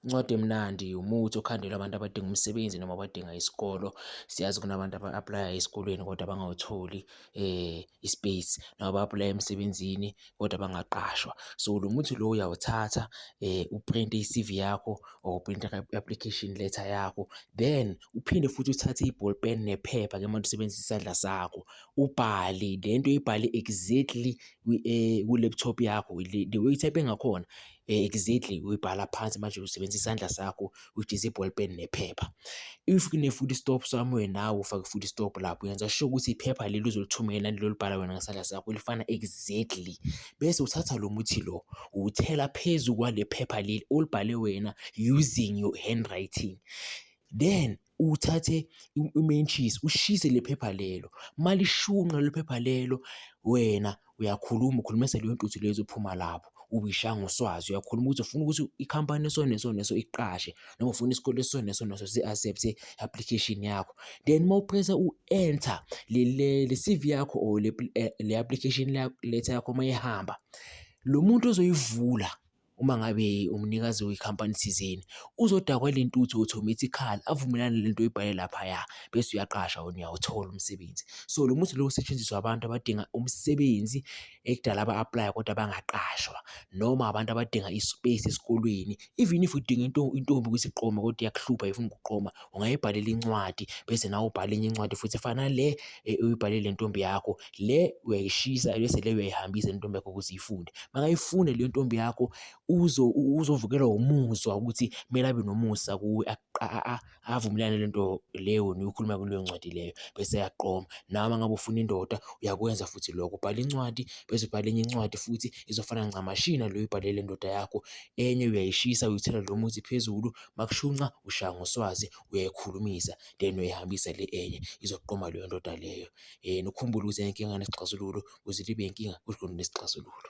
Incwadi emnandi umuthi okhandelwa abantu abadinga umsebenzi noma abadinga isikolo. Siyazi kunabantu aba-aplaya esikolweni kodwa bangawutholi i-space noma ba-aplaya emsebenzini kodwa bangaqashwa. So, lo muthi lo uyawuthatha uprinte i-C_V yakho or uprinte i-application letter yakho then uphinde futhi uthathe i-ball pen nephepha ke manje usebenzisa isandla sakho ubhale le nto uyibhale exactly kwi-laptop yakho the way u-type-e ngakhona. Exactly, uyibhala phansi manje usebenzisa isandla sakho which is i-ball pen nephepha. If kune-food stop somewhere nawe ufake i-food stop lapho yenza sure ukuthi iphepha leli uzolithumela naleli olibhala wena ngesandla sakho lifana exactly, bese uthatha lo muthi lo uwuthela phezu kwale phepha leli olibhale wena using your handwriting then uthathe umentshisi ushise le phepha lelo, malishunqa lelo phepha lelo wena uyakhuluma ukhuluma leyo ntuthu lezo uphuma lapho ubishaya ngoswazi. Uyakhuluma ukuthi ufuna ukuthi ikhampani eso neso neso ikuqashe noma ufuna isikole eso neso neso si-accept-e i-application yakho. Then uma upresa u-enter le C_V yakho or le application letter yakho uma ihamba, lo muntu ozoyivula. uma ngabe umnikazi wekhampani thizeni uzodakwa le ntuthu automatically avumelane lento oyibhale laphaya bese uyaqasha wena uyawuthola umsebenzi. So lo muthi lo usetshenziswa abantu abadinga umsebenzi ekudala aba-aplaya kodwa bangaqashwa noma abantu abadinga i-space esikolweni. Even if udinga intombi ukuthi iqome kodwa iyakuhlupha ifuna ukuqoma ungayibhalela incwadi bese nawe ubhale enye incwadi futhi efana nale uyibhalele ntombi yakho le uyayishisa bese le uyayihambisa intombi yakho ukuthi ifunde makayifunde le ntombi yakho uzo uzovukelwa umuzwa ukuthi kumele abe nomusa kuwe avumelane le nto leyo niyokhuluma kuleyo ncwadi leyo bese yaqoma nawe ngabe ufuna indoda uyakwenza futhi lokho ubhala incwadi bese ubhala enye incwadi futhi izofana ncamashi naleyo ibhalele indoda yakho enye uyayishisa uyithela lo muthi phezulu makushunqa ushaya ngoswazi uyayikhulumisa then uyayihambisa le enye izoqoma leyo ndoda leyo nokukhumbula ukuthi inkinga inesixazululo ukuze ibe inkinga kodwa inesixazululo.